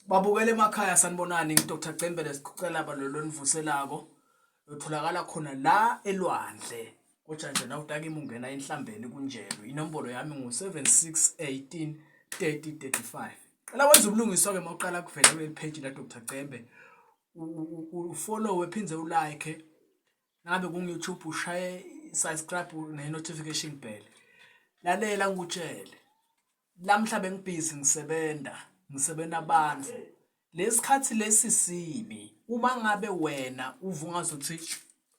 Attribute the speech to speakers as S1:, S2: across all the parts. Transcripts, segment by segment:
S1: babukele emakhaya sanibonani ngidr cembele sikhucelaba lolo nivuselako utholakala khona la elwandle kodwa nje nawutakima ungena enhlambeni kunjelo inombolo yami ngu-7618 3035 qala wenza ubulungiswa-ke uma uqala kuvela kuleli page la dr cembe ufollowe phinde ulike ngabe kungu-youtube ushaye subscribe ne-notification bell lalela ngikutshele lamhla bengibhizi ngisebenza ngisebenza abantu lesikhathi lesi sibi uma ngabe wena uvungaza ukuthi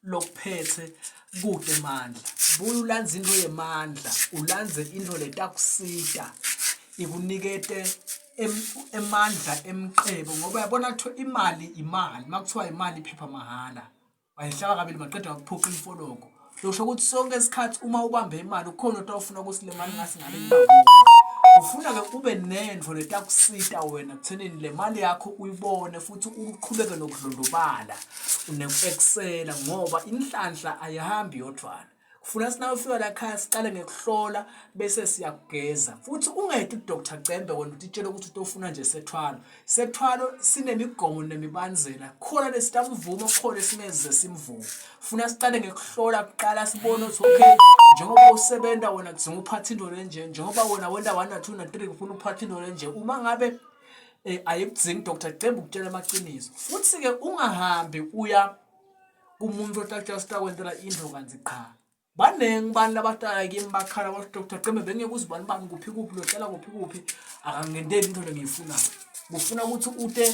S1: lokuphethe kude mandla buya ulandze into yemandla ulandze into letakusita ikunikete emandla emqebo ngoba yabona kuthiwa imali imali makuthiwa imali iphepha mahhala wayihlaba kabili maqeda wakuphuca imfologo losho ukuthi sonke isikhathi uma ubambe imali ukhona into ofuna ukuthi le mali ngasingale ufuna-ke ube nento letakusita wena kuthenini le mali yakho uyibone futhi uqhubeke nokudlondobala neku-eksela ngoba inhlanhla ayihambi yodwana Kufuna sina ufika la khaya siqale ngekuhlola bese siyakugeza. Futhi ungayedi uDr Cembe wena utitshela ukuthi utofuna nje sethwalo. Sethwalo sinemigomo nemibanzela. Khona lesitamvuma khona esingeze simvume. Funa siqale ngekuhlola kuqala sibone ukuthi okay njengoba usebenza wena kudinga uphatha into lenje njengoba wena wenda 1 na 2 na 3 kufuna uphatha into lenje uma ngabe eh, ayikudzingi Dr Cembe ukutshela amaqiniso. Futhi ke ungahambi uya kumuntu otatshela ukuthi akwenzela indlu kanzi qha baningi abantu labahlala kimi bakhala bathi doctor ceme bengeke uzibani bani kuphi kuphi lohlala kuphi kuphi akangenteli into lengiyifunayo kufuna ukuthi ute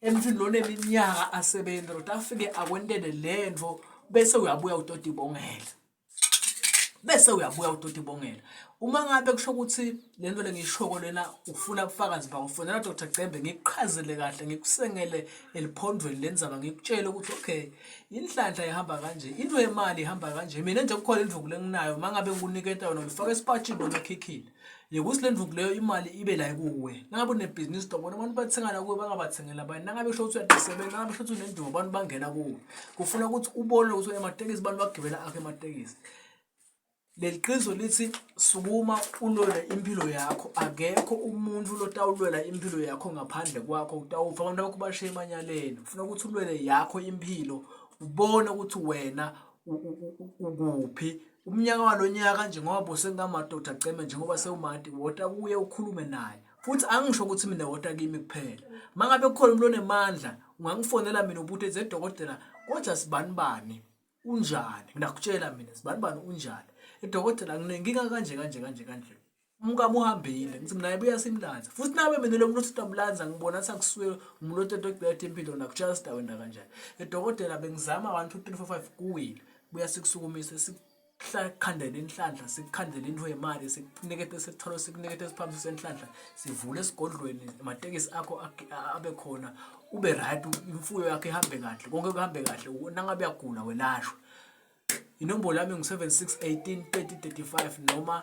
S1: emntwini lona eminyaka asebenza lota afike akwentele le nto bese uyabuya utoti bongela bese uyabuya udoti bongela uma ngabe kusho ukuthi le nto le ngiyishoko lena ufuna ubufakazi bakho fonela dr cembe ngikuqhazele kahle ngikusengele eliphondweni le nzaba ngikutshele ukuthi okay inhlanhla ihamba kanje into yemali ihamba kanje mina nje kukhona indluku lenginayo uma ngabe ngikuniketa yona ngifaka esipatshini noma ekhikhini Yekuthi le ndvuku leyo imali ibe la kuwe. Nangabe unebhizinisi tobona abantu bathengana kuwe bangabathengela abanye. Nangabe usho ukuthi uyaqisebenza, nangabe usho ukuthi unendumo abantu bangena kuwe. Kufuna ukuthi ubone ukuthi unematekisi abantu bagibela akho ematekisi. Leli qiniso lithi sukuma ulwele impilo yakho. Akekho umuntu lotawulwela impilo yakho ngaphandle kwakho. Utawufa abantu bakho bashiye emanyaleni. Kufuna ukuthi ulwele yakho impilo. Ubone ukuthi wena ukuphi umnyaka walonyaka nje ngoba bose ngamadoda ceme njengoba sewumati wota kuye ukhulume naye futhi angisho ukuthi mina wota kimi kuphela mangabe kukhona umuntu onemandla ungangifonela mina ubuthe ze dokotela kodwa sibani bani unjani ngakutshela mina sibani bani unjani idokotela nginenkinga kanje kanje kanje kanje umkami uhambile ngithi mina ayibuya simlanza futhi nabe mina lo muntu uthi amlanza ngibona athi akusuke umuntu otete ogcwele impilo nakutshala sidakwenda kanjani edokotela bengizama 1 2 3 4 5 kuwile buya sikusukumise sikukhandela inhlanhla sikukhandela into yemali sikunikete sithole sikunikete siphambi senhlanhla sivule esigodlweni amatekisi akho abe khona ube right imfuyo yakhe ihambe kahle konke kuhambe kahle nangabe uyagula welashwa inombolo yami ngu 7618 3035 noma